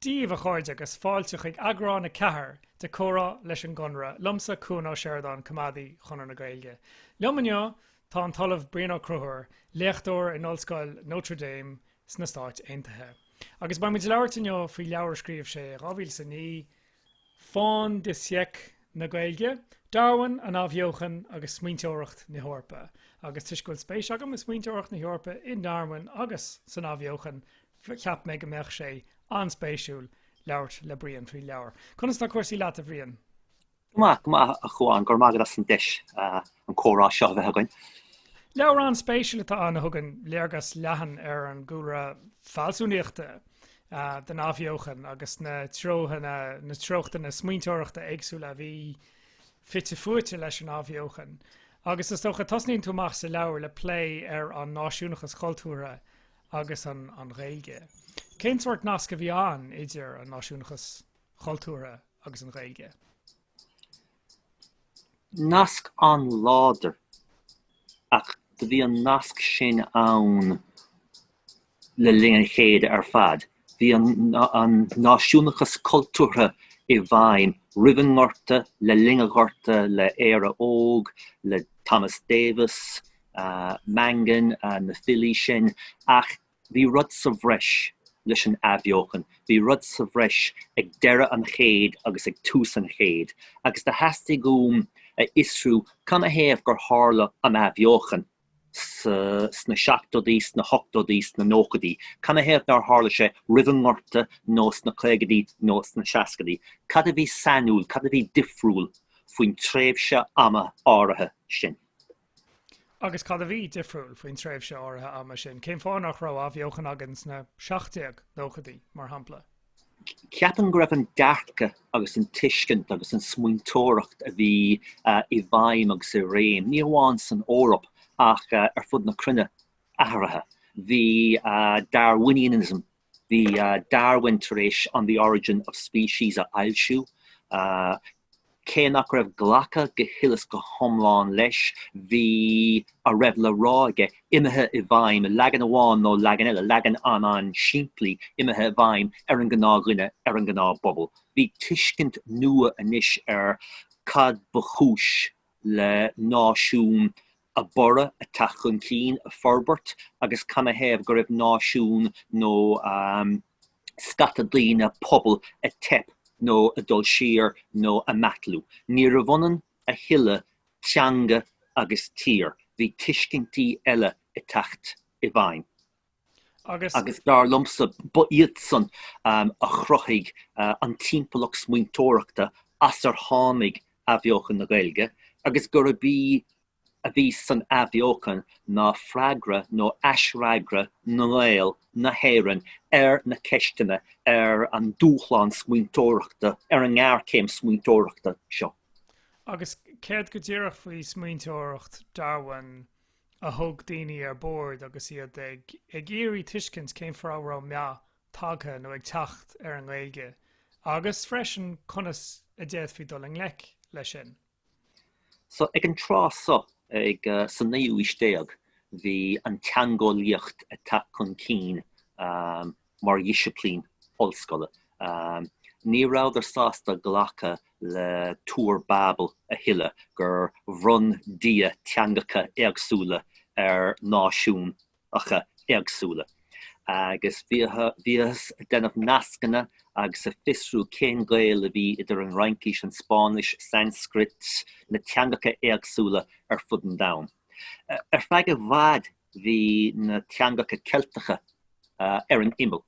díbh, a chairde, agus fáilte chuig Eagrán 4 de 'Comhrá leis an gConradh', liomsa, Cuan Ó Seireadáin, Coimeádaí Chonradh na Gaeilge. Liom inniu tá an tOllamh Brian Ó Conchubhair, léachtóir in Ollscoil Notre Dame sna Stáit Aontaithe. Agus beimid ag labhairt inniu faoi leabhar a scríobh sé i 2009, Fin de Siècle na Gaeilge, Darwin, an Athbheochan agus smaointeoireacht na hEorpa. Agus toisc go bhfuil spéis agam i smaointeoireacht na hEorpa, i nDarwin agus san Athbheochan, cheap mé go mbeadh sé an-spéisiúil labhairt le Brian faoin leabhar. Conas tá cúrsaí leat, a Bhriain? Go maith, go maith, a Chuain. Go raibh maith agat as an deis an comhrá seo a bheith againn. Leabhar an-spéisiúil atá ann a thugann léargas leathan ar an gcúlra fealsúnaíochta, den athbheochan agus na treochtaí, na treochtanna smaointeoireachta éagsúla a bhí fite fuaite leis an athbheochan. Agus is dócha, tosnaíonn tú amach sa leabhar le plé ar an náisiúnachas cultúrtha agus an Ghaeilge. Cén sórt nasc a bhí ann idir an náisiúnachas chultúrtha agus an Ghaeilge? Nasc an-láidir, ach do bhí an nasc sin ann le linn an chéid ar fad. Bhí an náisiúnachas cultúrtha i bhfeidhm roimh an nGorta, le linn an Ghorta, le Éire Óg, le Thomas Davis, Mangan, na filí sin, ach Bhí rud sa bhreis leis an athbheochan, bhí rud sa bhreis ag deireadh an chéid agus ag tús an chéid, agus do theastaigh uaim a fhiosrú canathaobh gur tharla an athbheochan sna, sna seachtóidí, sna hochtóidí, sna nóchaidí, canathaobh nár tharla sé roimh an nGorta nó sna caogaidí nó sna seascaidí. Cad a bhí sainiúil, cad a bhí difriúil faoin tréimhse ama áirithe sin? Agus cad a bhí difriúil faoin tréimhse áirithe ama sin? Cén fáth nach raibh athbheochan againn sna seacht-déag nóchaidí, mar shampla? Ceapaim go raibh an dearcadh agus an tuiscint agus an smaointeoireacht a bhí i bhfeidhm agus i réim, ní hamháin san Eoraip ach ar fud na cruinne, athraithe. Bhí Darwinianism Bhí Darwin tar éis On the Origin of Species a fhoilsiú. Cé nach raibh glacadh go huile is go hiomlán leis, bhí a raibh le rá aige imithe i bhfeidhm, leagan amháin nó leagan eile, leagan an-an-simplí, imithe i bhfeidhm ar an ngnáthdhuine, ar an ngnáthphobal. Bhí tuiscint nua anois ar cad ba chúis le náisiún a borradh, a teacht chun cinn, a forbairt agus canathaobh go raibh náisiún nó scata daoine, pobal, a teip nó a dul siar nó a meathlú. Níorbh ionann a thuilleadh teanga agus tír. Bhí tuiscintí eile ag teacht i bhfeidhm. agus. Agus dar liomsa, ba iadsan a chruthaigh an timpeallacht smaointeoireachta as ar tháinig Athbheochan na Gaeilge, agus gurb í a bhí san Athbheochan ná freagra nó aisfhreagra na nGael, na hÉireann, ar na ceisteanna, ar an dúshlán smaointeoireachta, ar an ngéarchéim smaointeoireachta seo. Agus céard go díreach faoi smaointeoireacht Darwin? a thug daoine ar bord agus iad ag iarraidh tuiscint cén fáth a raibh meath tagtha nó ag teacht ar an nGaeilge agus freisin conas a d'fhéadfaí dul i ngleic leis sin. So ag an tráth so, ag sa naoú aois déag, bhí an teangeolaíocht ag teacht chun cinn, mar dhisciplín ollscoile. Ní rabhadar sásta glacadh le Túr Babel a thuilleadh, gur bhronn Dia teangacha éagsúla ar náisiúnacha éagsúla, agus bhíothas ag déanamh nascanna agus ag fiosrú cén gaol a bhí idir an Fhraincís, an Spáinnis, Sanscrait, na teangacha éagsúla ar fud an domhain. Ar feadh i bhfad bhí na teangacha Ceilteacha ar an imeall,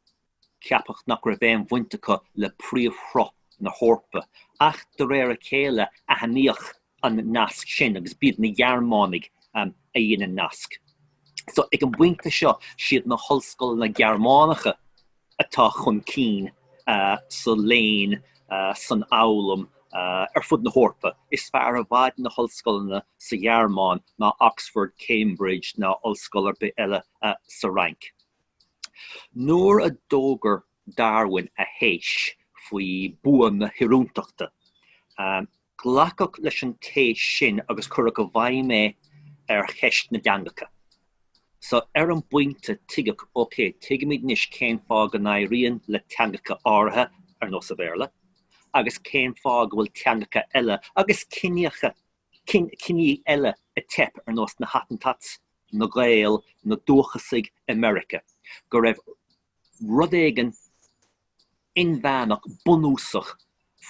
ceapadh nach raibh aon bhaint acu le príomhshruth na hEorpa, ach de réir a chéile aithníodh an nasc sin, agus b'iad na Gearmánaigh a dhein an nasc so. Ag an bpointe seo, siad na hollscoileanna Gearmánacha atá chun cinn sa léinn, san fhoghlaim ar fud na hEorpa. Is fearr i bhfad na hollscoileanna sa Ghearmáin ná Oxford, Cambridge ná ollscoil ar bith eile sa Fhrainc. Nuair a d'fhógair Darwin a théis faoi bhua na hoiriúntachta, Glacadh leis an téis sin agus cuireadh i bhfeidhm é ar cheist na dteangacha. So, ar an bpointe, tuigeadh, OK, tuigimid anois cén fáth go n-éiríonn le teangacha áirithe, ar nós an Bhéarla, agus cén fáth go bhfuil teangacha eile, agus ciní eile, ag teip, ar nós na Hottentots, na Gaeil, na dúchasaigh i Meiriceá, go raibh. rud éigin inmheánach bunúsach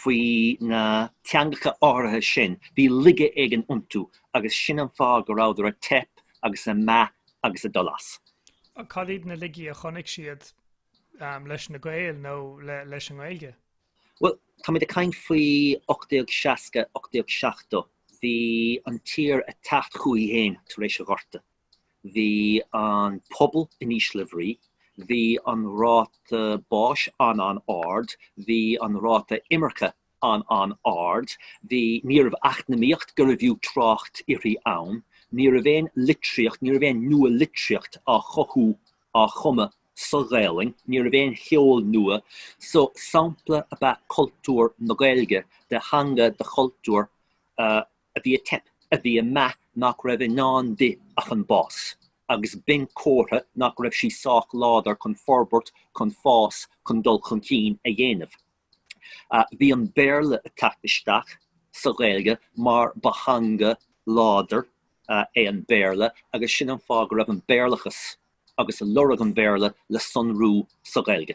faoi na teangacha áirithe sin, bhí laige éigin iontu agus sin an fáth go rabhadar a' teip agus a' meath agus a' dul as. Cad iad na laigí a chonaic siad leis na Gaeil nó leis an nGaeilge? Bhuel, táimid a' caint faoi ocht déag seasca, ocht déag seachtó, bhí an tír a' teacht chúithi féin tar éis a' Ghorta. Bhí an pobal in ísle brí. Bhí an ráta báis an-an-ard. Bhí an ráta imirce an-an-ard. Bhí, ní raibh eacnamaíocht go raibh fiú trácht uirthi ann. Ní raibh aon litríocht, ní raibh aon nua-litríocht á chothú, á chumadh sa Ghaelainn. Ní raibh aon cheol nua. So, sampla ab ea cultúr na Gaeilge de theanga, de chultúr a. a bhí ag teip, a bhí ag meath nach raibh i ndán di ach an bás, agus b'in comhartha nach raibh sí sách láidir chun forbairt, chun fás, chun dul chun cinn a dhéanamh. Bhí an Béarla ag teacht isteach sa Ghaeilge mar ba theanga láidir é an Béarla agus sin an fáth go raibh an Béarlachas agus lorg an Bhéarla le sonrú sa Ghaeilge.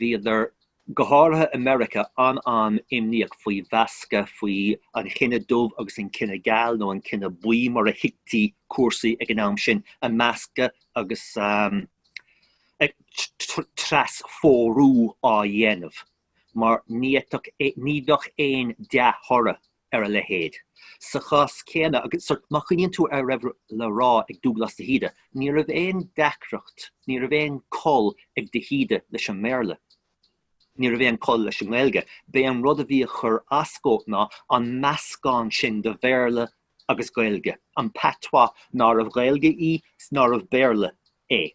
Bhíodar, go háirithe i Meiriceá, an-an-imníoch faoi mheascadh, faoi an chine dubh agus an cine geal, nó an cine buí mar a thuigtí cúrsaí ag an am sin, ag meascadh agus trasphórú á dhéanamh, mar ní fhéadfadh aon dea-thoradh ar a leithéid. Sa chás céanna, agus má chuimhníonn tú ar a raibh le rá ag Dúglás de hÍde, ní raibh aon deacracht, ní raibh aon col ag de hÍde leis an mBéarla, ní raibh aon col leis an nGaeilge, b'é an rud a bhí ag chur as dhó ná an meascán sin de Bhéarla agus Gaeilge, an patois nárbh Ghaeilge í is nárbh Bhéarla é.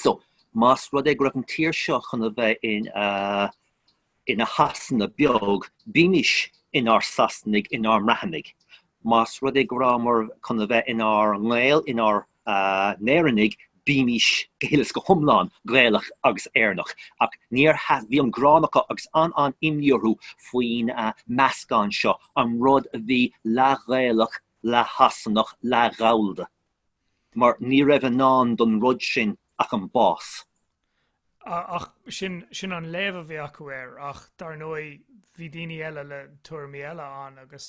So, más rud é go raibh an tír seo chun a bheith ina Shasana beag, bímis inár Sasanaigh, inár mBreathnaigh. Más rud é go rabhamar chun a bheith inár nGaeil, inár nÉireannaigh, bímis go huile is go hiomlán Gaelach agus Éireannach. Ach níor, bhí an gráin acu agus an-an-imní orthu faoin meascán seo, an rud a bhí leath-Ghaelach, leath-Shasanach, leath-Ghallda. mar ní raibh i ndán don rud sin ach an bás. Ach sin, sin an léamh a bhí acu air, ach dar ndóigh bhí daoine eile le tuairimí eile ann agus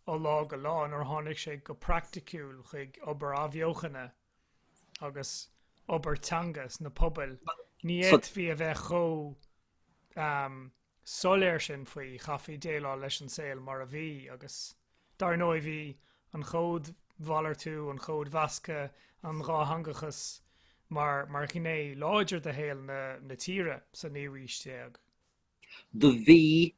ó lá go lá nuair a tháinig sé go praiticiúil chuig obair athbheochana agus obair teanga sna pobail, ní fhéadfaí a bheith chomh, soiléir sin faoi, chaithfí déileáil leis an saol mar a bhí agus, dar ndóigh, bhí an chódmhalartú, an chódmheascadh, an dhátheangachas mar mar ghné láidir de shaol na na tíre sa naoú haois déag. Do bhí,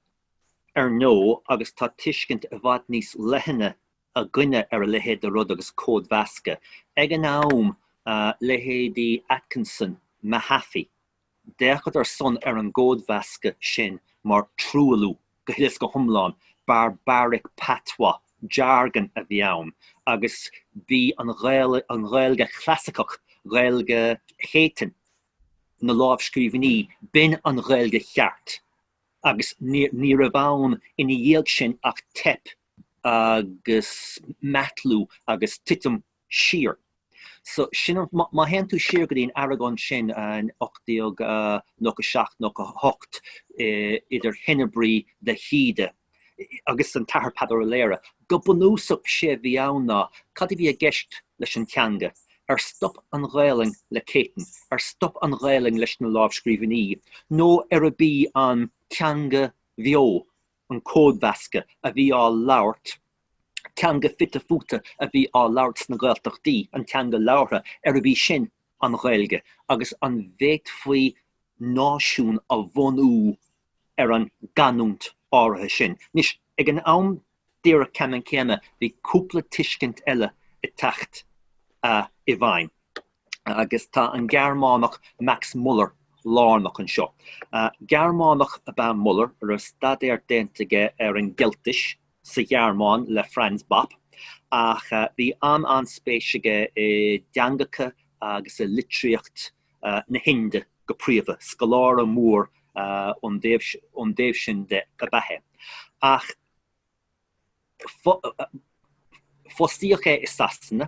ar ndóigh, agus tá tuiscint i bhfad níos leithne againne ar a leithéid de rud agus códmheascadh, ag an am, leithéidí Atkinson, Mahaffy, D'fhéachadar ar son ar an gcódmheascadh sin mar truailliú, go huile is go hiomlán, barbaric patois, jargon, a bhí ann, agus b'í an an Ghaeilge Chlasaiceach, Gaeilge Chéitinn, Gaeilge na lámhscríbhinní, b'in an Ghaeilge cheart, agus ní raibh ann ina dhiaidh sin ach teip agus meathlú agus titim siar. So, sin an, má théann tú siar go dtí an argóint sin in 1897, 98, idir Henebry, de hÍde agus an tAthair Peadar Ó Laoghaire, go bunúsach sé a bhí ann ná, cad a bhí i gceist leis an teanga? Ar stop an Ghaelainn le Céitinn? Ar stop an Ghaelainn leis na lámhscríbhinní? Nó arbh í an teanga bheo an códmheascadh a bhí á labhairt, teanga fite futa a bhí á labhairt sna Gaeltachtaí, an teanga labhartha, arbh í sin an Ghaeilge, agus an bhféadfaí náisiún a bhunú ar an gcanúint áirithe sin. Anois, ag an am díreach ceanann céanna, bhí cúpla tuiscint eile ag teacht i bhfeidhm. agus tá an Gearmánach Max Muller lárnach anseo. Gearmánach ab ea Muller a raibh staidéar déanta aige ar an gCeiltis sa Ghearmáin le Franz Bopp, ach bhí an-an-spéis aige i dteangacha agus i litríocht na hInde go príomha. Scoláire mór ón dtaobh sin de ab ea é. Ach. Fostaíodh é i Sasana.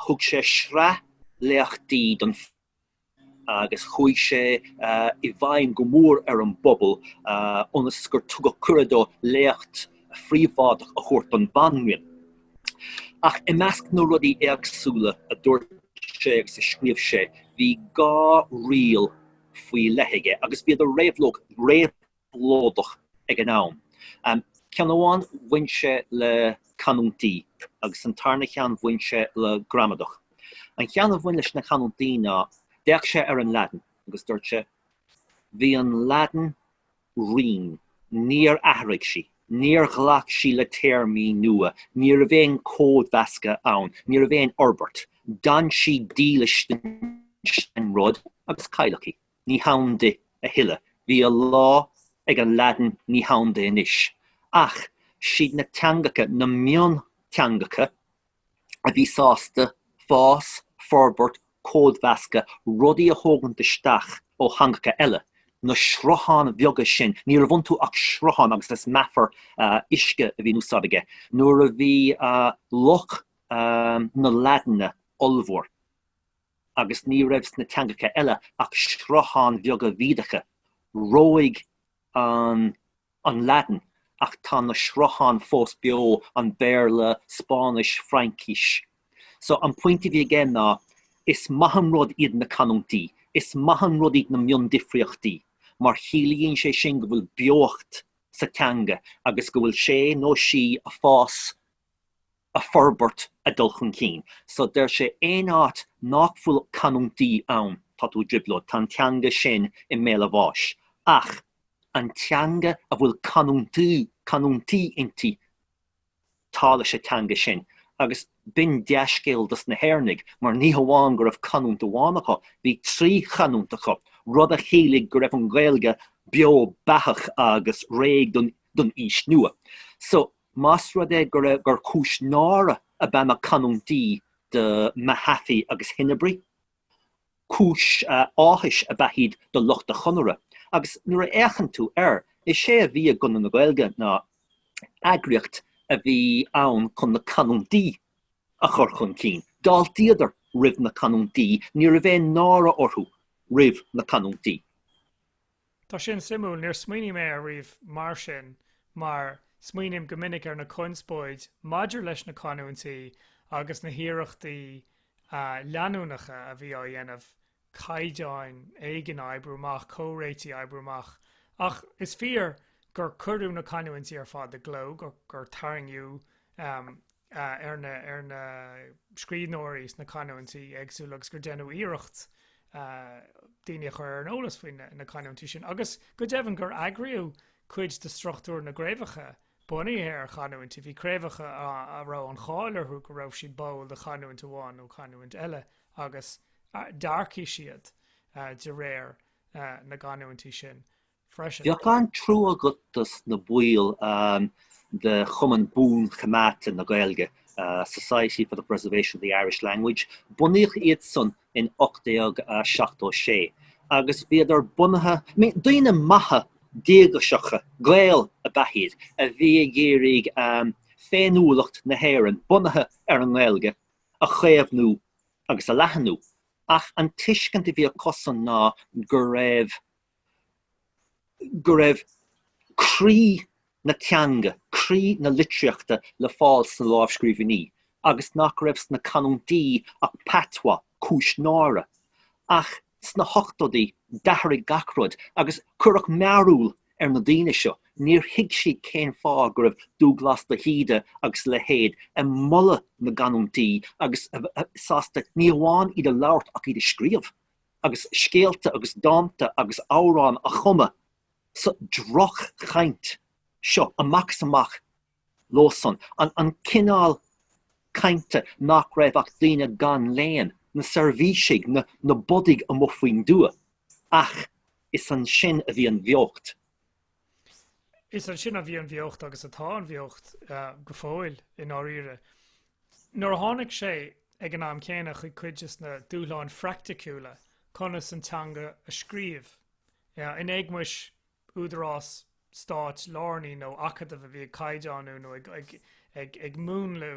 Thug sé sraith léachtaí don phobal agus chuaigh sé i bhfeidhm go mór ar an bpobal ionas gur tugadh cuireadh dó léacht phríobháideach a thabhairt don Bhanríon. Ach i measc na rudaí éagsúla a dúirt sé agus a scríobh sé, bhí dhá riail faoi leith aige agus bhíodar réabh lóideach ag an am. Ceann amháin bhain sé le canúintí agus an tarna cheann bhain sé le gramadach. An cheann a bhain leis na canúintí ná, d'fhéach sé ar an Laidin agus dúirt sé, Bhí an Laidin righin, níor athraigh sí, níor ghlac sí le téarmaí nua, ní raibh aon códmheascadh ann, ní raibh aon fhorbairt, d'fhan sí dílis don rud agus cailleadh í. ní hann di a thuilleadh, bhí a lá ag an Laidin ní hann di anois, ach siad na teangacha, na mionteangacha, a bhí sásta fás, forbairt, códmheascadh, rudaí a thógaint isteach ó theangacha eile, na srutháin bheaga sin, ní raibh iontu ach srutháin agus is meafar uisce a bhí in úsáid aige, nuair a bhí loch na Laidine ollmhór. agus ní raibh sna teangacha eile ach srutháin bheaga bhídeacha, reoigh an an Laidin, ach tá na srutháin fós beo, an Béarla, Spáinnis, Fraincis. So, an pointe a bhí aige ná, is maith an rud iad na canúintí, is maith an rud iad na miondifríochtaí, mar chiallaíonn sé sin go bhfuil beocht sa teanga agus go bhfuil sé nó sí a' fás a' forbairt a' dul chun cinn. So deir sé aon áit nách bhfuil canúintí ann tá tú i dtrioblóid, tá an teanga sin i mbéal a bháis. Ach an teanga a bhfuil canúintí, canúintí inti tá leis an teanga sin agus b'in dea-scéal dos na hÉireannaigh mar ní hamháin go raibh canúint amháin acu, bhí trí chanúint acu, rud a chiallaigh go raibh an Ghaeilge beo beathach agus réidh don aois nua. So. Más rud é gur cúis náire ab ea na canúintí do Mahaffy agus Henebry, cúis áthais ab ea iad do lucht an Chonartha, agus nuair a fhéachann tú air, is é a bhí i gConradh na Gaeilge ná eagraíocht a bhí ann chun na canúintí a chur chun cinn. D'fháiltíodar roimh na canúintí, ní raibh aon náire orthu roimh na canúintí. Tá sin suimiúil, níor smaoinigh mé air riamh mar sin, mar smaoiním go minic ar na conspóid maidir leis na canúintí agus na hiarrachtaí leanúnacha a bhí á dhéanamh caighdeán éigin a oibriú amach, comhréitigh a oibriú amach. Ach is fíor gur cuireadh na canúintí ar fad i gcló, gur tarraingíodh. ar na scríbhneoirí sna canúintí éagsúla agus gur déanadh iarracht daoine a chur ar an eolas faoi na canúintí sin agus, go deimhin, gur eagraíodh cuid de struchtúr na gcraobhacha bunaithe ar chanúintí. Bhí craobhacha ann a raibh an cháil orthu go raibh siad báúil do chanúint amháin nó canúint eile agus d'earcaigh siad de réir na gcanúintí sin. Bheadh an-trua agat dos na baill de Chumann Buan-Choimeádta na Gaeilge, Society for the Preservation of the Irish Language. Bunaíodh iadsan in 1876 agus bhíodar bunaithe, daoine maithe díograiseacha, Gaeil ab ea iad, a bhí ag iarraidh féiniúlacht na hÉireann, bunaithe ar an nGaeilge, a chaomhnú agus a leathnú. Ach an tuiscint a bhí acusan ná go raibh. go raibh croí na teanga, croí na litríochta le fáil sna lámhscríbhinní agus nach raibh sna canúintí ach patois, cúis náire. Ach sna hochtóidí d'athraigh gach rud agus cuireadh mearbhall ar na daoine seo, níor thuig siad cén fáth go raibh Dúbhghlas de hÍde agus a leithéid ag moladh na gcanúintí agus sásta ní hamháin iad a labhairt ach iad a scríobh. agus scéalta agus dánta agus amhrán a chumadh sa droch-chaint seo amach is amach leosan, an cineál cainte nach raibh ach daoine gan léann, na seirbhísigh, na bodaigh amuigh faoin dtuath, ach is ansin a bhí an bheocht. Is ansin a bhí an bheocht, agus atá an bheocht go fóill i ndáiríre. Nuair a tháinig sé ag an am céanna chuig cuid des na dúshláin phraiticiúla, conas an teanga a scríobh, in éagmais údarás stáit lárnaí nó acadamh a bhí ag caighdeánú nó ag múnlú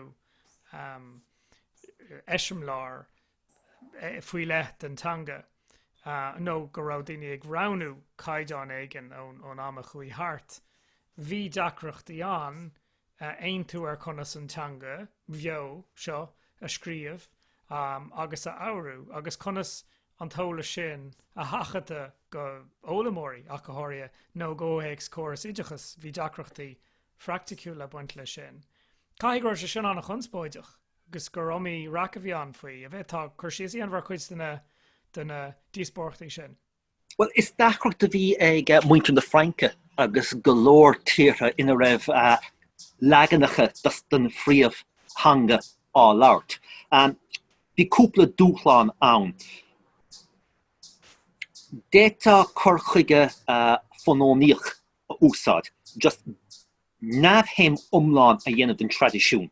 eiseamláir faoi leith den teanga nó go raibh daoine ag roghnú caighdeán éigin ón am a chuaigh thart, bhí deacrachtaí ann aontú ar conas an teanga bheo seo a scríobh agus a fhoghrú agus conas an t-eolas sin a sheachadadh go foghlaimeoirí ach go háirithe nó i gcomhthéacs córas oideachais. Bhí deacrachtaí phraiticiúla ag baint leis sin. Caithfidh go raibh sé sin ana-chonspóideach. agus gur iomaí raic a bhí ann faoi. An bhféadfá cur síos a dhéanamh ar chuid de na díospóireachtaí sin. Bhuel, is deacracht a bhí ag muintir na Fraince agus go leor tíortha ina raibh leaganacha den phríomhtheanga á labhairt. Bhí cúpla dúshlán ann. D'fhéadfadh cur chuige fónamaíoch a úsáid, just neamhshuim iomlán a dhéanamh den traidisiún.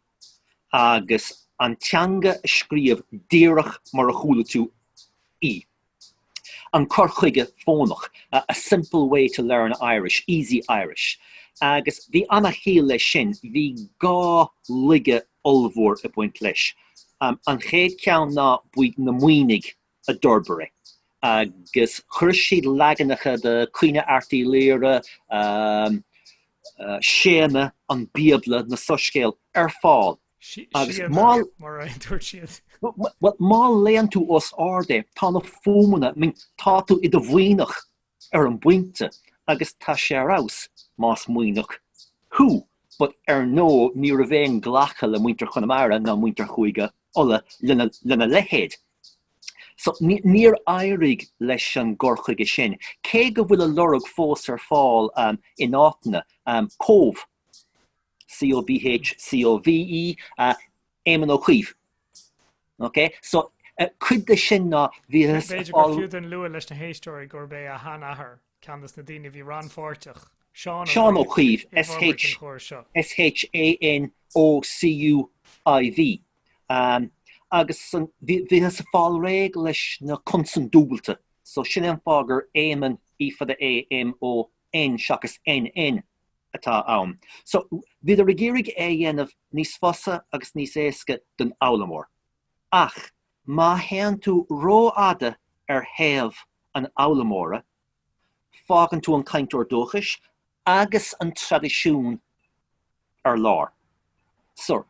agus an teanga a scríobh díreach mar a chuala tú í. An cur chuige fónach, a simple way to learn Irish, easy Irish. Agus bhí ana-chiall leis sin, bhí dhá laige ollmhór ag baint leis. An chéad ceann ná na Muimhnigh a d'fhorbair é agus chuir siad leaganacha de Caoineadh Airt Uí Laoghaire, Séanna, an Bíobla, na Soiscéil ar fáil. Agus má léann tú os ard é, tá na fuaimeanna, tá tú i do Mhuimhneach ar an bpointe agus tá sé ar fheabhas más Muimhneach thú but ar ndóigh ní raibh aon ghlacadh le muintir Chonamara ná muintir Chúige Uladh lena leithéid so níor éirigh leis an gcur chuige sin, cé go bhfuil a lorg fós ar fáil in áiteanna, Cóbh, C O B H C O V E, Éamon Ó Cuív, OK? So, cuid de sin ná bhí. B'fhéidir gur fiú dúinn a lua leis na héisteoirí gurb é a shean-athair ceann des na daoine a bhí rannpháirteach, Seán Ó Cuív. Seán Ó Cuív, S-h-a-n-o-c-u-i-v. Agus bhíothas ag fáil réidh leis na consain dúbailte, so sin é an fáth gur Éamon, E fada A, M, O, N, seachas N, N. atá ann. So, bhíodar ag iarraidh é a dhéanamh níos fusa agus níos éasca don fhoghlaimeoir. Ach, má théann tú rófhada ar thaobh an fhoghlaimeora, fágann tú an cainteoir dúchais agus an traidisiún ar lár. So,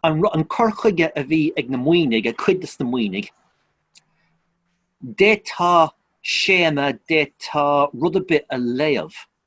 an cur chuige a bhí ag na Muimhnigh, ag cuid des na Muimhnigh, d'fhéadfá Séadna, d'fhéadfá rud ar bith a léamh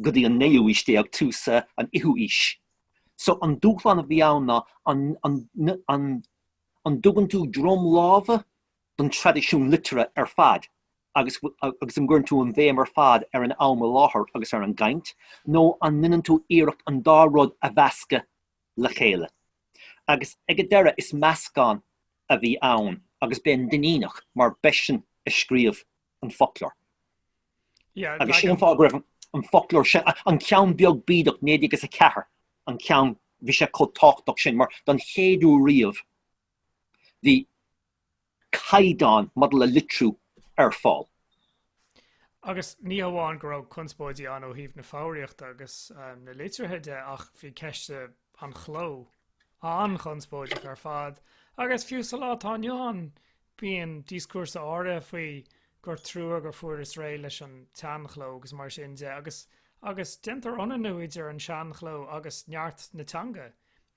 go dtí an naoú haois déag, tús an fhichiú haois. So, an dúshlán a bhí ann ná an, an, an, an dtugann tú droim láimhe don traidisiún liteartha ar fad agus, agus an gcuireann tú an bhéim ar fad ar an am i láthair agus ar an gcaint, nó an ndeineann tú iarracht an dá rud a mheascadh le chéile. Agus ag an deireadh, is meascán a bhí ann agus b'é an Duinníneach, mar b'eisean a scríobh an foclóir, agus sin an fáth go raibh an foclóir sin, an ceann beag bídeach, 1904, an ceann, bhí sé chomh tábhachtach sin, mar don chéad uair riamh, bhí. caighdeán maidir le litriú ar fáil. Agus ní hamháin go raibh conspóidí ann ó thaobh na foghraíochta agus na litrithe de ach bhí ceist an chló an-chonspóideach ar fad agus fiú sa lá atá inniu ann bíonn díoscúrsa áirithe faoi gur trua gur fuarthas réidh leis an tseanchló agus mar sin de agus déantar ionannú idir an seanchló agus neart na teanga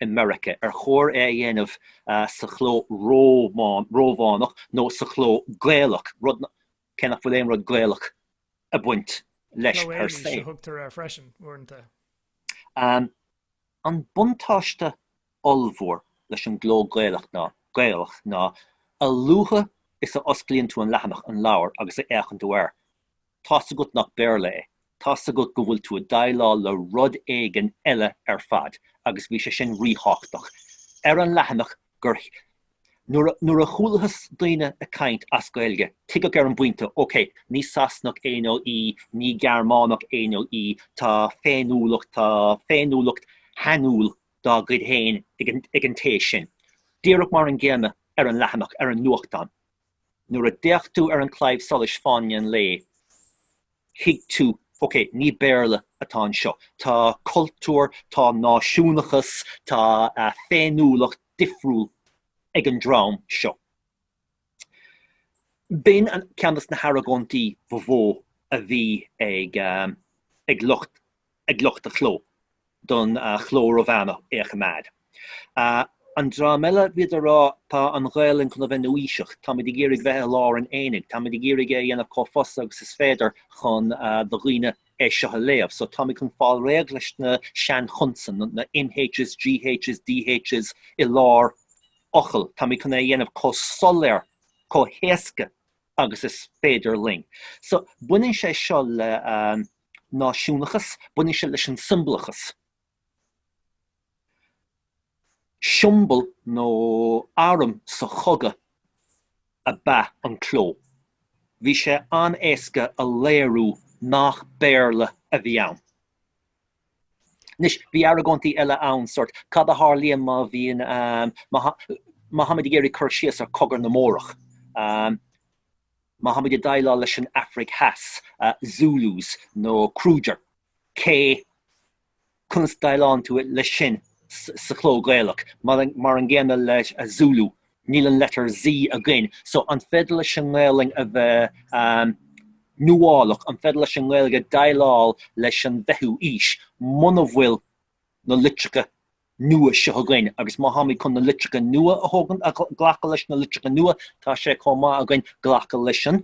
i Meiricea, ar chóir é a dhéanamh sa chló Rómhánach nó sa chló Gaelach, rud, cé nach bhfuil aon rud Gaelach ag baint leis per se. Cló Éireannach a thugtar air freisin, uaireanta. An buntáiste ollmhór leis an gcló Gaelach ná, a luaithe is a osclaíonn tú an leathanach, an leabhar, agus a fhéachann tú air, Tá's agat nach Béarla é, tá's agat go bhfuil tú ag déileáil le rud éigin eile ar fad, agus bhí sé sin ríthábhachtach. Ar an leathanach gur, nuair a chualathas daoine ag caint as Gaeilge, tuigeadh ar an bpointe, OK, ní Sasanach é nó í, ní Gearmánach é nó í, tá féiniúlacht, tá féiniúlacht shainiúil dá gcuid féin ag an té sin. Díreach mar an gcéanna ar an leathanach, ar an nuachtán. Nuair a d'fhéach tú ar an Claidheamh Soluis Fáinne an Lae, thuig tú, ok, ní Béarla atá anseo. Tá cultúr, tá náisiúnachas, tá féiniúlacht difriúil ag an dream seo. B'in ceann de na hargóintí ba mhó a bhí ag lucht ag lucht a chló don chló Rómhánach a choimeád. An dream eile, bhíodar ag rá, tá an Ghaelainn chun a bheith nuaaoiseach, táimid ag iarraidh bheith i lár an aonaigh, táimid ag iarraidh é a dhéanamh chomh fusa agus is féidir chun do dhaoine é seo a léamh. So táimid chun fáil réidh leis na seanchonsain, na MH's, GH's, DH's i lár fhocail, táimid chun é a dhéanamh chomh soiléir, chomh héasca agus is féidir linn. So baineann sé seo le. náisiúnachas, baineann sé leis an siombalachas, siombail nó arm sa chogadh ab ea an cló, bhí sé an-éasca a léiriú nach Béarla a bhí ann. Anois, bhí argóintí eile ann, sórt, cad a tharlaíonn má bhíonn, má tháimid ag iarraidh cur síos ar Chogadh na mBórach? Má tháimid ag déileáil leis an Afraic Theas, Zulus nó Kruger, K, conas déileálann tú leis sin sa chló Gaelach? Mar an gcéanna le Zulu, níl an letter Z againn, so an féidir leis an nGaelainn a bheith nuálach, an féidir leis an nGaeilge déileáil leis an bhfichiú aois muna bhfuil na litreacha nua seo againn agus má tháimid chun na litreacha nua a thógaint, ag glacadh leis na litreacha nua, tá sé chomh maith againn glacadh leis an,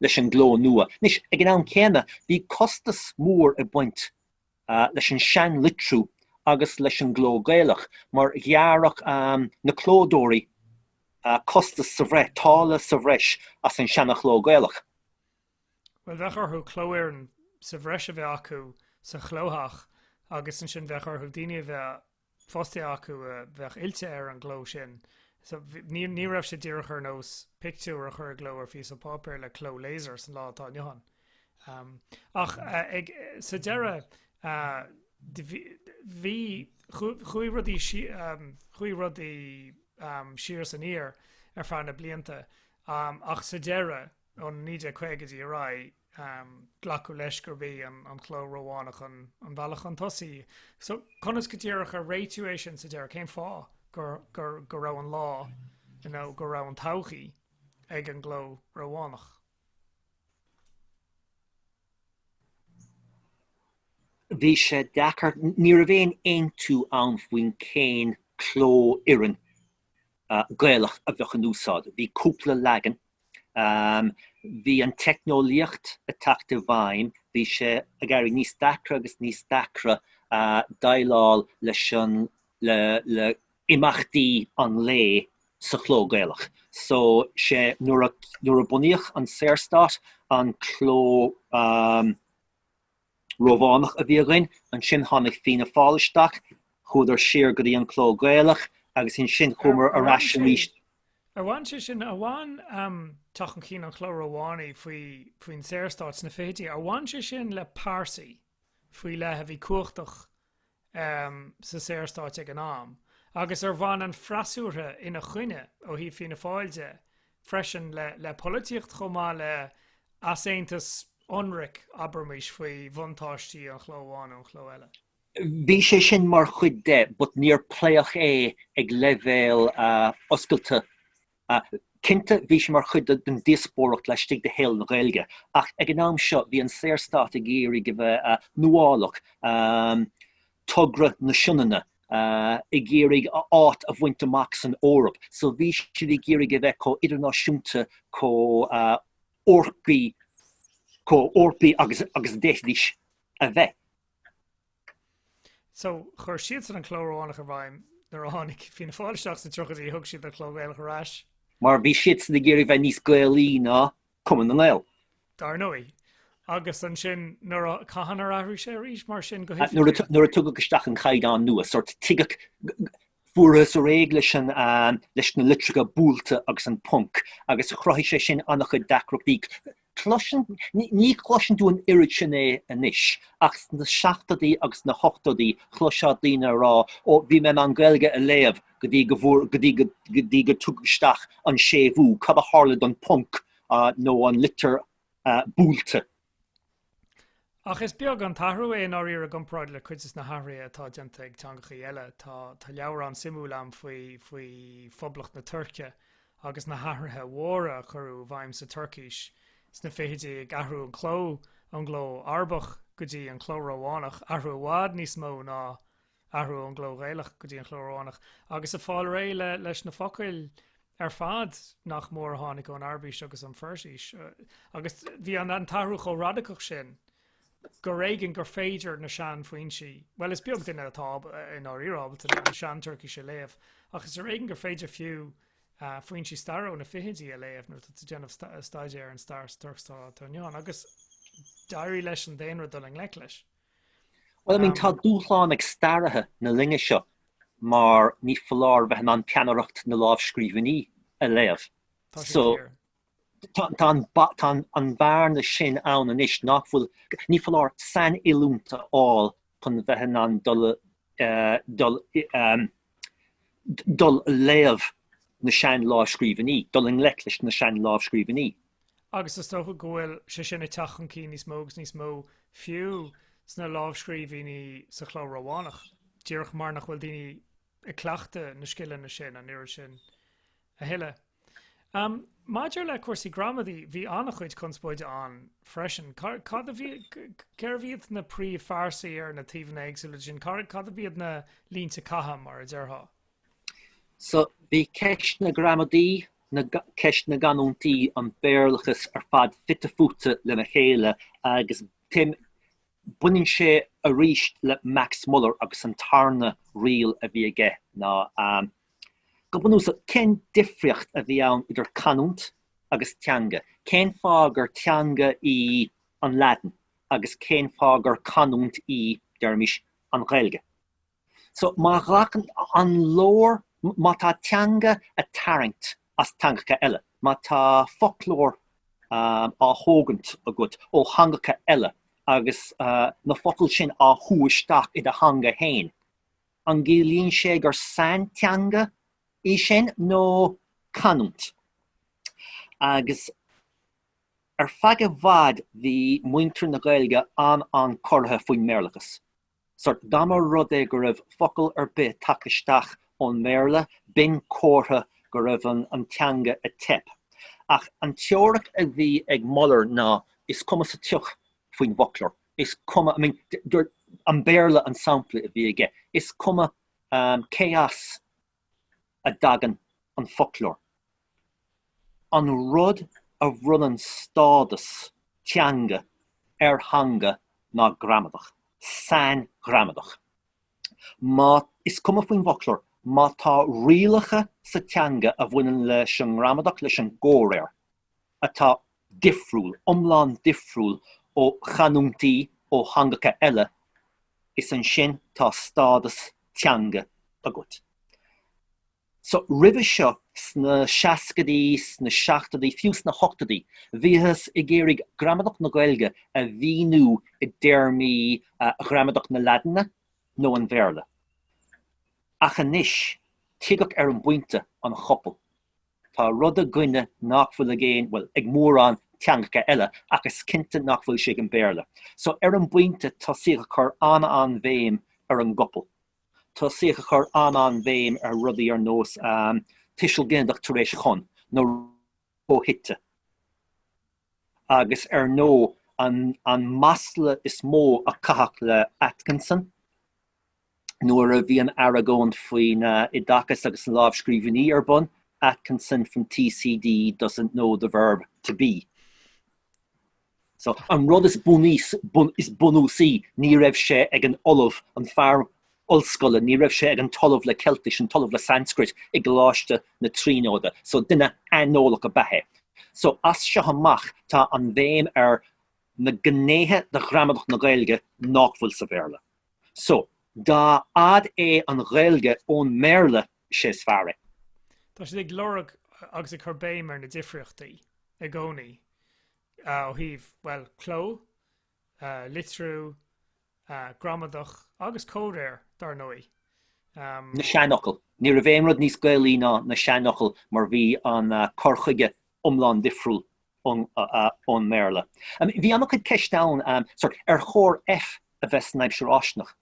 leis an gcló nua. Anois, ag an am céanna, bhí costas mór ag baint leis an seanlitriú agus leis an gcló Gaelach mar ghearrfadh na clódóirí costas sa bhreis, táille sa bhreis as an seanachló Gaelach. Bhuel, bheadh orthu cló-fhoireann sa bhreis a bheith acu sa chlótheach agus ansin bheadh orthu daoine a bheith fostaithe acu a bheadh oilte ar an gcló sin. So, ní, ní raibh sé díreach ar nós pictiúr a chur i gcló ar phíosa páipéir le cló laser san lá atá inniu ann. Um, ach uh, ag, sa deireadh, uh, bhí, chuaigh rudaí, um, chuaigh rudaí um, siar san aer ar feadh na blianta, um, ach sa deireadh, Ó na 1950idí ar aghaidh, glacadh leis gurb é an cló Rómhánach an bealach chun tosaigh. So, conas go díreach ar réitíodh é sin sa deireadh? Cén fáth go raibh an lá, nó go raibh an todhchaí, ag an gcló Rómhánach? Bhí sé deacair. Ní raibh aon aontú ann faoin cén cló, fiú an Gaelach a bheadh in úsáid. Bhí cúpla leagan. Bhí an teicneolaíocht ag teacht i bhfeidhm, bhí sé ag éirí níos deacra agus níos deacra déileáil leis an, le, le imeachtaí an lae sa chló Gaelach. So, sé, nuair a, nuair a bunaíodh an Saorstát, an cló, Rómhánach a bhí againn, ansin tháinig Fianna Fáil isteach, chuadar siar go dtí an cló Gaelach agus ansin chuamar ar ais arís. Ar bhain sé sin, ar bhain teacht chun cinn an chló Rómhánaigh faoin Saorstát sna fichidí, ar bhain sé sin le pearsaí faoi leith a bhí cumhachtach sa Saorstát ag an am, agus ar bhain an freasúra ina choinne, ó thaobh Fianna Fáil de, freisin, le polaitíocht chomh maith le easaontas ionraic, abraimís, faoi bhuntáistí an chló amháin nó an chló eile. Bhí sé sin mar chuid de, but níor pléadh é ag leibhéal oscailte. Cinnte, bhí sé mar chuid den díospóireacht laistigh de shaol na Gaeilge, ach ag an am seo bhí an Saorstát ag iarraidh a bheith nuálach, Togra na Sionainne, ag iarraidh a áit a bhaint amach san Eoraip, so bhí siad ag iarraidh a bheith chomh idirnáisiúnta, chomh Eorpaí, chomh Eorpaí agus a d'fhéadfaidís a bheith. So, chuir siadsan an Cló Rómhánach i bhfeidhm nuair a tháinig Fianna Fáil isteach sna tríochaidí, thug siad an Cló Gaelach ar ais. Mar bhí siadsan ag iarraidh bheith níos Gaelaí ná Cumann na nGaedheal. Dar ndóigh. Agus ansin, nuair a, cathain ar athraigh sé arís mar sin go h... Nuair a tugadh isteach an Caighdeán nua, sórt, tuigeadh, fuarthas réidh leis an, leis na litreacha buailte agus an ponc, agus chruthaigh sé sin an-chuid deacrachtaí. Cloiseann, ní chloiseann tú an oiread sin é anois, ach sna seachtóidí agus sna hochtóidí chloisfeá daoine ag rá, ó, bhí mé in ann Gaeilge a léamh go dtí go bhfuair, go dtí go, go dtí gur tugadh isteach an séimhiú, cad a tharla don ponc nó an litir buailte? Ach is beag an t-athrú é i ndáiríre i gcomparáid le cuid de na hathruithe atá déanta ag teangachaí eile. Tá, tá leabhrán suimiúil ann faoi faoi Phoblacht na Tuirce agus na hathruithe mhóra a cuireadh i bhfeidhm sa Tuircís sna fichidí, ag athrú an cló ón gcló Arabach go dtí an cló Rómhánach, athrú i bhfad níos mó ná. athrú ón gcló Gaelach go dtí an cló Rómhánach, agus ag fáil réidh leis na focail ar fad nach mór a tháinig ón Araibis agus ón Pheirsis, agus bhí an an t-athrú chomh radacach sin gur ar éigean gur féidir na seanfhoinsí, bhuel, is beag duine atá dáiríre ábalta an tSean-Tuircis a léamh, ach is ar éigean gur féidir fiú foinsí staire ó na fichidí a léamh nuair atá tú ag déanamh staidéir ar an stair sa Tuirc atá inniu ann, agus d'éirigh leis an daonra dul i ngleic leis. Bhuel, I mean, tá dúshlán ag staraithe na linne seo mar ní foláir bheith in ann peannaireacht na lámhscríbhinní a léamh. So, tá an bhearna sin ann anois nach bhfuil, ní foláir sainoiliúint a fháil chun bheith in ann dul i, dul i, dul a léamh na sean-lámhscríbhinní, dul i ngleic leis na sean-lámhscríbhinní. Agus is dócha go bhfuil sé sin ag teacht chun cinn níos mó agus níos mó, fiú sna lámhscríbhinní sa chló Rómhánach, díreach mar nach bhfuil daoine ag cleachtadh na scileanna sin an oiread sin a thuilleadh. Maidir le cúrsaí gramadaí, bhí an-chuid conspóide ann freisin. Cérbh iad na príomhphearsain ar na taobhanna éagsúla de sin? Cad ab iad na línte catha, mar a déarfá? So, bhí ceist na gramadaí, ceist na gcanúintí, an Béarlachas ar fad fite fuaite lena chéile agus baineann sé arís le Max Muller agus an tarna riail a bhí aige ná. Go bunúsach, cén difríocht a bhí ann idir canúint agus teanga? Cén fáth gur teanga í an Laidin agus cén fáth gur canúint í, deirimis, an Ghaeilge? So, má ghlacann, an leor, má tá teanga ag tarraingt as teangacha eile, má tá foclóir á thógaint agat ó theangacha eile agus na focail sin á shú isteach i do theanga féin, An gciallaíonn sé gur sainteanga í sin nó canúint? Agus ar feadh i bhfad bhí muintir na Gaeilge an-chorraithe faoin mBéarlachas. Sórt, dá mba rud é go raibh focal ar bith tagtha isteach ón mBéarla, b'in comhartha go raibh an teanga ag teip. Ach an teoiric a bhí ag Muller ná, is cuma sa tsioc faoin bhfoclóir. is cuma, I mean, an Béarla an sampla a bhí aige, is cuma cé as a dtagann an foclóir, an rud a bhronnann stádas teanga ar theanga ná gramadach, sainghramadach. Má, is cuma faoin bhfoclóir, má tá rialacha sa teanga a bhaineann leis an ngramadach, leis an gcomhréir, atá difriúil, iomlán difriúil ó chanúintí, ó theangacha eile, is ansin tá stádas teanga agat. So, roimhe seo, sna seascaidí, sna seachtoidí, fiú sna hochtoidí, bhíothas ag iarraidh gramadach na Gaeilge a mhíniú i dtéarmaí ghramadach na Laidine nó an Bhéarla. Ach anois, tuigeadh ar an bpointe an chopail. Tá rud againne nach bhfuil ag aon, bhuel, ag mórán teangacha eile, ach is cinnte nach bhfuil sé ag an Bhéarla. So, ar an bpointe, tosaíodh ag cur an-an-bhéim ar an gcopail. Tosaíodh ag cur an-an-bhéim ar rudaí ar nós tuiseal ginideach tar éis chun, nó aidhte, agus ar ndóigh, an masla is mó a caitheadh le Atkinson, nuair a bhí an argóint faoin oideachas agus na lámhscríbhinní ar bun, Atkinson from TCD doesn't know the verb to be. So, an rud is bunúsaí, ní raibh sé ag an ollamh, an fear ollscoile, ní raibh sé ag an t-ollamh le Ceiltis, an t-ollamh le Sanscrait i gColáiste na Tríonóide. So, duine aineolach ab ea é. So, as seo amach, tá an bhéim ar na gnéithe de ghramadach na Gaeilge nach bhfuil sa Bhéarla. So, dá fhad é an Ghaeilge ón mBéarla, sé is fearr é. Tá siad ag lorg agus ag cur béim ar na difríochtaí i gcónaí ó thaobh, bhuel, cló, litriú, gramadach agus comhréir, dár ndóigh. na seanfhocail. Ní raibh aon rud níos Gaelaí ná na seanfhocail mar bhí an cur chuige iomlán difriúil ón mBéarla. Bhí an-chuid ceisteanna, ar chóir F a bheith san aimsir fháistineach?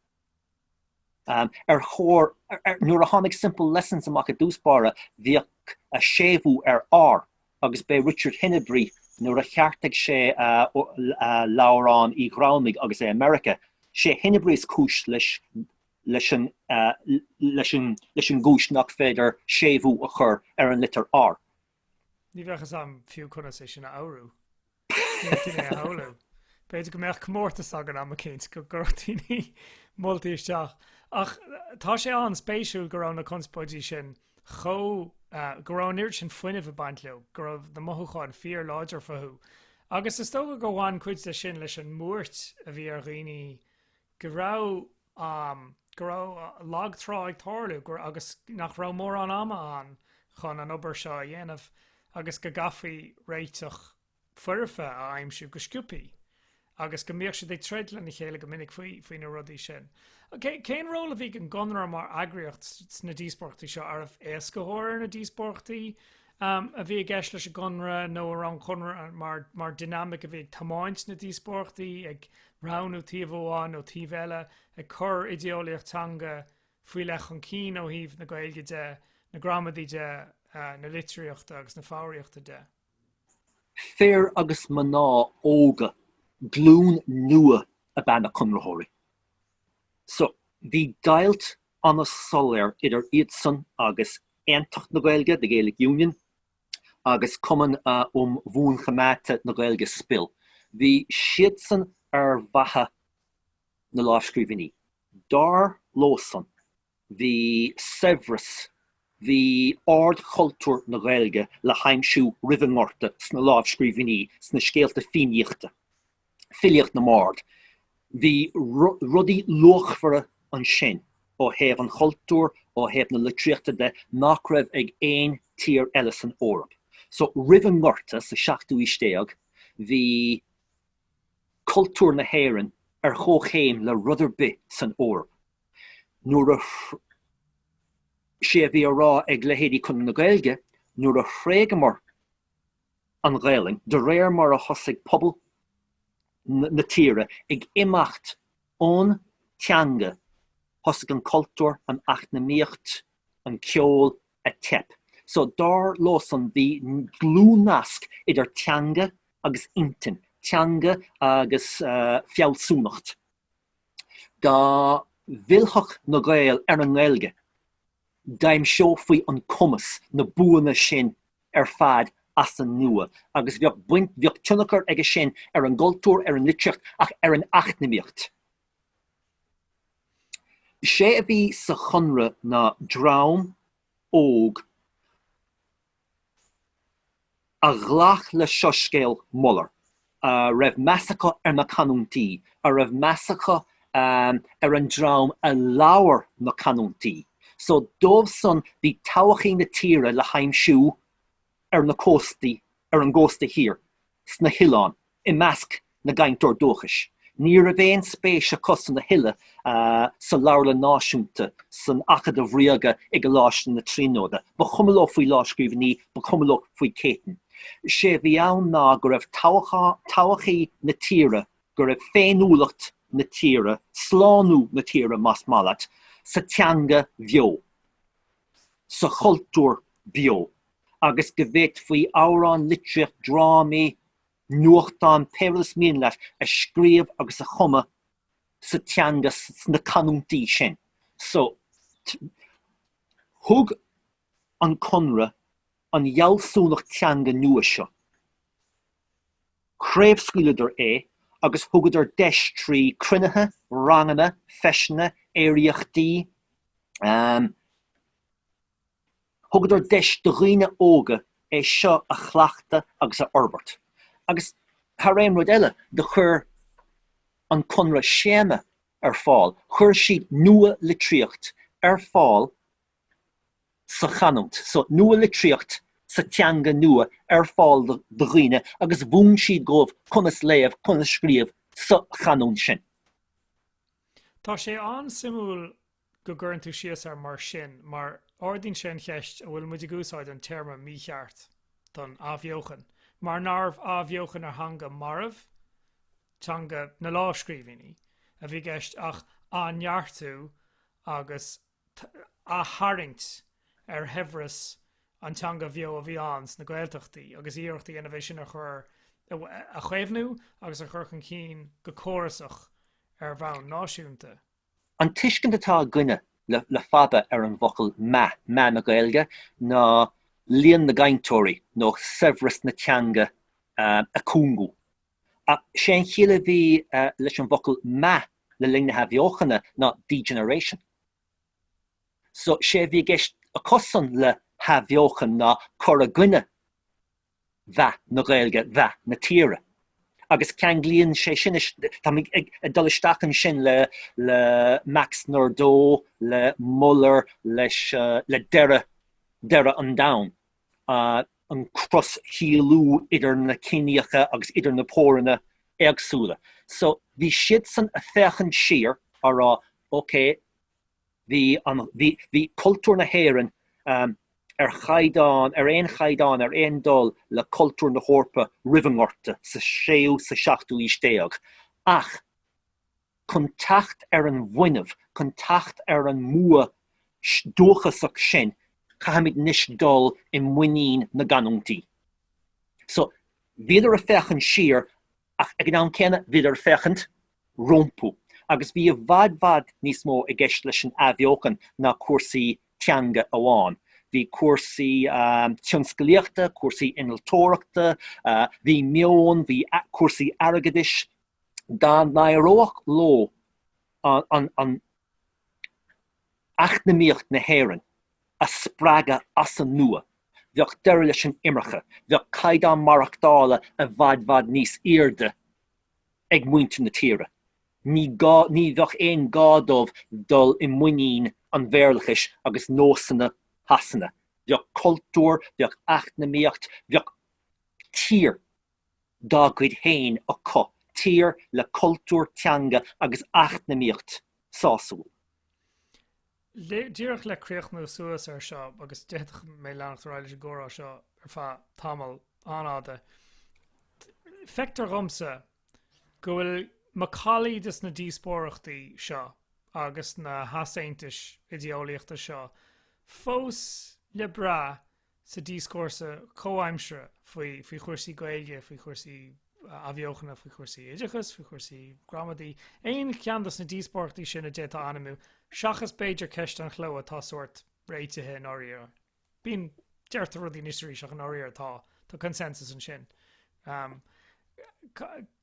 Ar chóir, nuair a tháinig Simple Lessons amach i dtús báire, bhíodh séimhiú ar R, agus b'é Richard Henebry, nuair a cheartaigh sé leabhrán Uí Ghramhnaigh agus é i Meiriceá, sé Henebry is cúis leis an gcúis nach féidir séimhiú a chur ar an litir R. Ní bheadh fhios agam fiú conas é sin a fhoghrú. Ní áirím é a shamhlú. B'fhéidir go mbeadh comórtas againn am eicínt go gcuirfeadh daoine moltaí isteach. Ach tá sé an-spéisiúil go raibh na conspóidí sin chomh. go raibh an oiread sin fuinnimh ag baint leo, go raibh na mothúcháin fíorláidir fúthu. Agus is dócha gur bhain cuid de sin leis an mbuairt a bhí ar dhaoine go raibh. amh, go raibh lag trá ag tarlú agus nach raibh mórán ama ann chun an obair seo a dhéanamh agus go gcaithfí réiteach foirfe a aimsiú go sciobtha agus go mbíodh siad ag troid lena chéile go minic faoi faoi na rudaí sin. cén ról a bhí ag an gConradh mar eagraíocht sna díospóireachtaí seo? Arbh éascaitheoir ar na díospóireachtaí? a bhí i gceist leis an gConradh, nó ar an Chonradh, mar dynamic a bhí ag tiomáint na díospóireachtaí, ag roghnú taobh amháin nó taobh eile, ag cur idéolaíocht teanga faoi leith chun cinn ó thaoibh na Gaeilge de, na gramadaí de, na litríochta agus na foghraíochta de. Fir agus mná óga, glún nua ab ea na Conraitheoirí. So, bhí deighilt an-soiléir idir iadsan agus Aontacht na Gaeilge, the Gaelic Union, agus Cumann um Bhuanchoimeádta na Gaeilge, SPIL. Bhí siadsan ar mhaithe le lámhscríbhinní. Dar leosan, bhí saibhreas, bhí ardchultúr na Gaeilge le haimsiú roimh an nGorta sna lámhscríbhinní, sna scéalta Fiannaíochta. filíocht na mbard. Bhí rudaí luachmhara ansin ó thaobh an chultúir, ó thaobh na litríochta de, nach raibh ag aon tír eile san Eoraip. So, roimh an nGorta sa seachtú aois déag, bhí cultúr na hÉireann ar chomhchéim le rud ar bith san Eoraip. Nuair a, sé a bhí á rá ag leithéidí Conradh na Gaeilge, nuair a thréigeamar, an Ghaelainn, de réir mar a thosaigh pobal na tíre ag imeacht ón teanga thosaigh an cultúr, an eacnamaíocht, an ceol ag teip. So dar leosan bhí dlúthnasc idir teanga agus intinn, teanga agus fealsúnacht. Dá bhfillfeadh na Gaeil ar an nGaeilge, d'aimseofaí an cumas, na buanna sin ar fad as an nua agus bheadh, bheadh tionchar aige sin ar an gcultúr, ar an litríocht, ach ar an eacnamaíocht. Is é a bhí sa Chonradh ná dream óg, a ghlac le soiscéal Müller, a raibh meas acu ar na canúintí, a raibh meas acu ar an dream a labhair na canúintí. So, dóibhsean bhí todhchaí na tíre le haimsiú ar na cóstaí, ar an gcósta thiar. sna hoileáin i measc na gcainteoirí dúchais. Ní raibh aon spéis acusan a thuilleadh sa Leabharlann Náisiúnta, san Acadamh Ríoga, i gColáiste na Tríonóide. Ba chuma leo faoi lámhscríbhinní, ba chuma leo faoi Chéitinn. Sé a bhí ann ná go raibh todhchaí na tíre, go raibh féiniúlacht na tíre, slánú na tíre, más maith leat, sa teanga bheo. sa chultúr beo agus go bhféadfaí amhráin, litríocht, drámaí, nuachtáin, pé rud is mian leat, a scríobh agus a chumadh sa teanga, sna canúintí sin. So, thug an Conradh. an fhealsúnacht teanga nua seo. Chraobhscaoileadar é agus thugadar deis trí cruinnithe, ranganna, feiseanna, aeraíochtaí, ahem, thugadar deis do dhaoine óga é seo a chleachtadh agus a fhorbairt. Agus thar aon rud eile, do chuir an Conradh scéama ar fáil, chuir siad nua-litríocht ar fáil, sa chanúint, so nua-litríocht sa teanga nua ar fáil do dhaoine agus mhúin siad dhóibh conas léamh, conas scríobh sa chanúint sin. Tá sé an-suimiúil go gcuireann tú síos air mar sin mar ardaíonn sé an cheist an bhfuil muid ag úsáid an téarma mícheart don athbheochan mar nárbh athbheochan ar theanga marbh, teanga na lámhscríbhínní, a bhí i gceist ach athneartú agus a tharraingt ar shaibhreas an teanga bheo a bhí ann sna Gaeltachtaí agus iarracht a dhéanamh é sin a chur, a chaomhnú agus a chur chun cinn go córasach ar bhonn náisiúnta. An tuiscint atá againne le fada ar an bhfocal 'meath', meath na Gaeilge, ná líon na gcainteoirí nó saibhreas na teanga ag cúngú. Ach sé an chiall a bhí leis an bhfocal meath le linn na hAthbheochana ná degeneration. So sé a bhí i gceist acusan le hAthbheochan ná cur i gcoinne mheath na Gaeilge, mheath na tíre. Agus ceanglaíonn sé sin, táimid ag dul isteach ansin le Max Nordau, le Muller, leis, le deireadh, deireadh an domhain. an cros-shíolú idir na ciníocha agus idir na póireanna éagsúla. So, bhí siadsan a' féachaint siar á rá, OK, bhí an, bhí, bhí cultúr na hÉireann ar chaighdeán, ar aon chaighdeán, ar aon dul le cultúr na hEorpa roimh an nGorta sa séú, sa seachtú aois déag. Ach. chun teacht ar an bhfuinneamh, chun teacht ar an mbua dúchasach sin, caithfimid anois dul i muinín na gcanúintí. So, bhíodar ag féachaint siar ach ag an am céanna bhíodar ag féachaint rompu. Agus bhí i bhfad bhfad níos mó i gceist leis an athbheochan ná cúrsaí teanga amháin. Bhí cúrsaí tionscalaíochta, cúrsaí innealtóireachta, bhí meon, bhí cúrsaí airgeadais, dá n-éireodh leo eacnamaíocht na hÉireann a spreagadh as an nua, bheadh deireadh leis an imirce, bheadh caighdeán maireachtála i bhfad bhfad níos airde ag muintir na tíre, ní gá, ní bheadh aon gá dóibh dul i muinín an Bhéarlachais agus nósanna Shasana, bheadh cultúr, bheadh eacnamaíocht, bheadh tír. dá gcuid féin acu, tír le cultúr, teanga agus eacnamaíocht sásúil. Díreach le críochnú suas ar seo, agus d'fhéadfadh mé leanacht ar aghaidh leis an gcomhrá seo ar feadh tamaill an-fhada, feictear dhomsa go bhfuil macallaí des na díospóireachtaí seo agus na heasaontais oideolaíochta seo fós le brath sa díoscúrsa comhaimseartha faoi, faoi chúrsaí Gaeilge, faoi chúrsaí athbheochana, faoi chúrsaí oideachais, faoi chúrsaí gramadaí, aon cheann dos na díospóireachtaí sin a d'fhéadfá ainmiú, seachas b'fhéidir ceist an chló atá sórt réitithe i ndáiríre. Bíonn, deirtear rudaí anois is arís ach i ndáiríre tá, tá consensus ansin.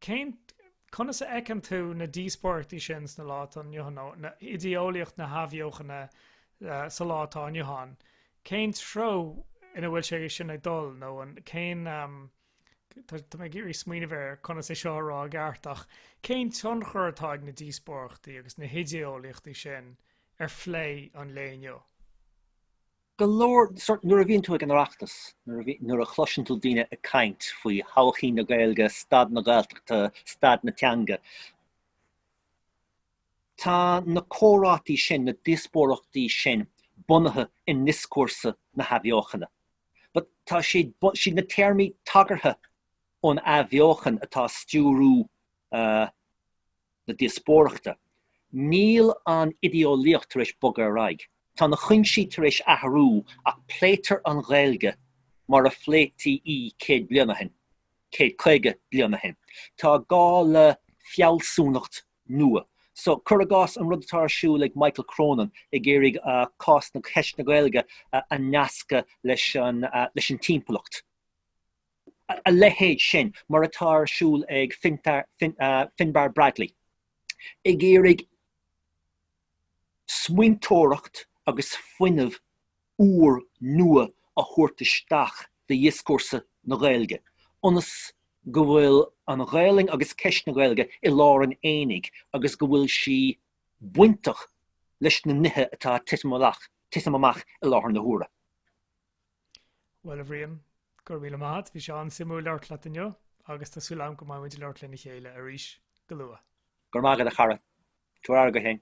Cén, conas a fheiceann tú na díospóireachtaí sin sa lá atá inniu ann, nó idé-eolaíocht na hathbheochana sa lá atá inniu ann? Cén treo ina bhfuil sé sin ag dul, nó an, cén, tá mé ag iarraidh smaoineamh ar conas é seo a rá i gceart, ach cén tionchar atá ag na díospóireachtaí agus na hidé-eolaíochtaí sin ar phlé an lae inniu? go leor, nuair a bhíonn tú ag an Oireachtas, nuair a chloiseann tú daoine ag caint faoi thodhchaí na Gaeilge, staid na Gaeltachta, staid na teanga, tá na comhráití sin, na díospóireachtaí sin bunaithe i ndioscúrsa na hathbheochana. But tá, is iad na téarmaí tagartha ón athbheochan atá ag stiúradh, na díospóireachta. Níl an idéeolaíocht tar éis bogadh ar aghaidh. Tá na cuinsí tar éis athrú ach pléitear an Ghaeilge mar a phléití í céad bliain ó shin, céad caoga bliain ó shin. Tá gá le fealsúnacht nua. So, cur i gcás an rud atá ar siúl ag Michael Cronin, ag iarraidh cás na, ceist na Gaeilge a nascadh leis an, leis an timpeallacht. a leithéid sin, mar atá ar siúl ag Finbarr Bradley, ag iarraidh smaointeoireacht agus fuinneamh úr nua a thabhairt isteach do dhioscúrsa na Gaeilge, ionas go bhfuil an Ghaelainn agus ceist na Gaeilge i lár an aonaigh agus go bhfuil sí bainteach leis na nithe atá ag titim amach i láthair na huaire. Bhuel, a Bhriain, go raibh míle maith a't, bhí sé an-suimiúil labhairt leat inniu, agus tá súil agam go mbeidh muid ag labhairt lena chéile arís go luath. Go raibh maith agat, a chara. Tabhair aire dhuit fhéin.